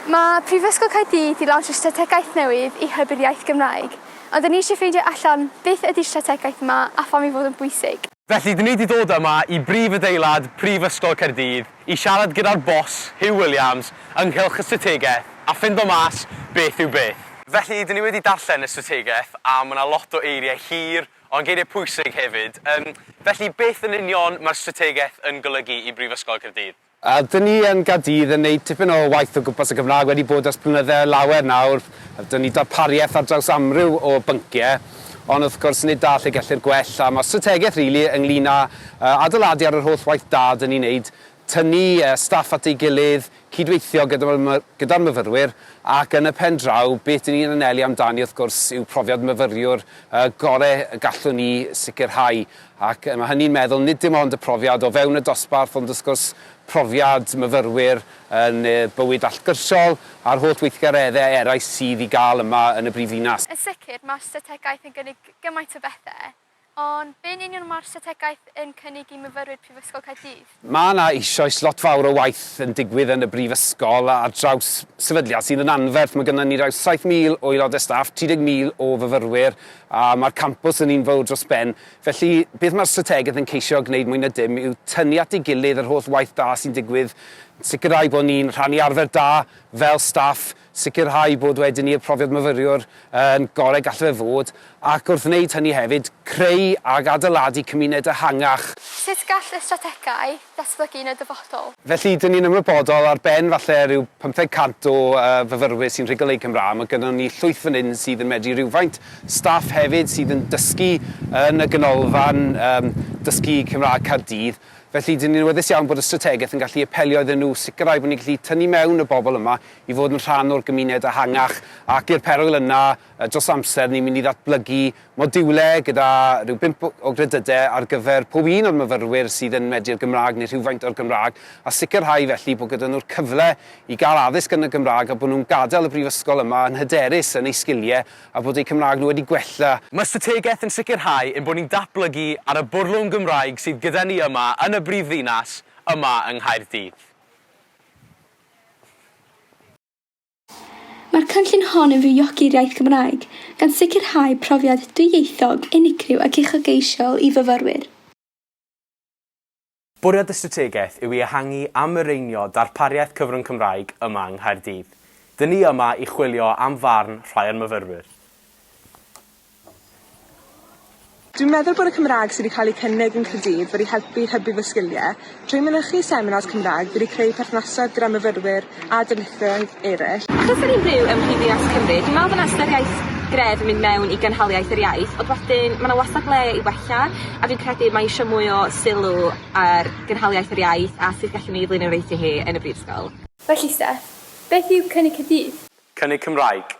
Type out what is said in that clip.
Mae Prifysgol Caerdydd 'di lawnsio strategaeth newydd i hybu'r iaith Gymraeg, ond 'da ni eisiau ffeindio allan beth ydi'r strategaeth yma a pham ei fod yn bwysig. Felly, 'da ni 'di dod yma i brif adeilad Prifysgol Caerdydd i siarad gyda'r boss, Huw Williams, ynghylch y strategaeth a ffindo mas beth yw beth. Felly, 'da ni wedi darllen y strategaeth a ma' 'na lot o eiriau hir, ond geiriau pwysig hefyd. Yym, felly, beth yn union mae'r strategaeth yn golygu i Brifysgol Caerdydd? A dyn ni yn Gaerdydd yn neud tipyn o waith o gwmpas y Gymraeg wedi bod ers blynydde lawer nawr, a dyn ni darpariaeth ar draws amryw o byncie, ond wrth gwrs nid da lle gellir gwell, a ma' strategaeth rili ynglyn â yy adeiladu ar yr holl waith da dyn ni'n neud, tynnu yy staff at ei gilydd, cydweithio gyda my- gyda'r myfyrwyr, ac yn y pen draw beth dyn ni'n anelu amdani wrth gwrs yw profiad myfyriwr yy gore y gallwn ni sicrhau. Ac mae hynny'n meddwl nid dim ond y profiad o fewn y dosbarth ond wrth gwrs profiad myfyrwyr yn y bywyd allgyrsiol a'r holl weithgareddau eraill sydd i gael yma yn y brifddinas. Yn sicr, mae'r strategaeth yn gynnig gymaint o bethau, ond be'n union mae'r strategaeth yn cynnig i myfyrwyr Prifysgol Caerdydd? Mae yna eisoes lot fawr o waith yn digwydd yn y Brifysgol ar draws sefydliad sydd yn anferth. Mae gynnon ni rhyw 7,000 o aelodau staff, 30,000 o fyfyrwyr a mae'r campws yn un fawr dros ben. Felly, beth mae'r strategaeth yn ceisio gwneud mwy na dim yw tynnu at ei gilydd yr holl waith da sy'n digwydd, sicrhau bod ni'n rhannu arfer da fel staff, sicrhau bod wedyn ni'r profiad myfyriwr yn gorau gall fe fod, ac wrth wneud hynny hefyd, creu ac adeiladu cymuned ehangach. Sut gall y strategaeth ddatblygu yn y dyfodol? Felly, dyn ni'n ymwybodol, ar ben falle rhyw pymtheg cant o fyfyrwyr sy'n rhugl eu Cymraeg, mae gynnon ni llwyth fan hyn sydd yn medru rywfaint, staff hefyd sydd yn dysgu yn y Ganolfan Dysgu Cymraeg Caerdydd, felly dyn ni'n awyddus iawn bod y strategaeth yn gallu apelio iddyn nhw, sicrhau bod ni'n gallu tynnu mewn y bobl yma i fod yn rhan o'r gymuned ehangach ac i'r perwyl yna dros amser ni'n mynd i ddatblygu modiwle gyda rhyw bump o gredydau ar gyfer pob un o'r myfyrwyr sydd yn medi'r Gymraeg neu rhywfaint o'r Gymraeg a sicrhau felly bod gyda nhw'r cyfle i gael addysg yn y Gymraeg a bod nhw'n gadael y brifysgol yma yn hyderus yn eu sgiliau a bod eu Cymraeg nhw wedi gwella. Mae'r strategaeth yn sicrhau ein bod ni'n datblygu ar y bwrlwm Gymraeg sydd gyda ni yma yn y brifddinas yma yng Nghaerdydd. Mae'r cynllun hon yn fywiog i'r iaith Gymraeg, gan sicrhau profiad dwyieithog unigryw ac uchelgeisiol i fyfyrwyr. Bwriad y strategaeth yw i ehangu a mireinio darpariaeth cyfrwng Cymraeg yma yng Nghaerdydd. Dŷn ni yma i chwilio am farn rhai o'r myfyrwyr. Dwi'n meddwl bod y Cymraeg sydd wedi cael ei cynnig yn Caerdydd wedi helpu i hybu fy sgiliau. Trwy mynychu seminars Cymraeg, fi wedi creu perthnasau gyda myfyrwyr a darlithoedd eraill. Achos o'n i'n byw ym Mhrifddinas Cymru, dwi'n meddwl bod 'na ystyriaeth gref yn mynd mewn i gynhaliaeth yr iaith, ond wedyn ma' 'na wastad le i wella, a fi'n credu mae isio mwy o sylw ar gynhaliaeth yr iaith a sut gallwn ni flaenoriaethu hi yn y brifysgol. Felly Steff, beth yw Cynnig Caerdydd? Cynnig Cymraeg,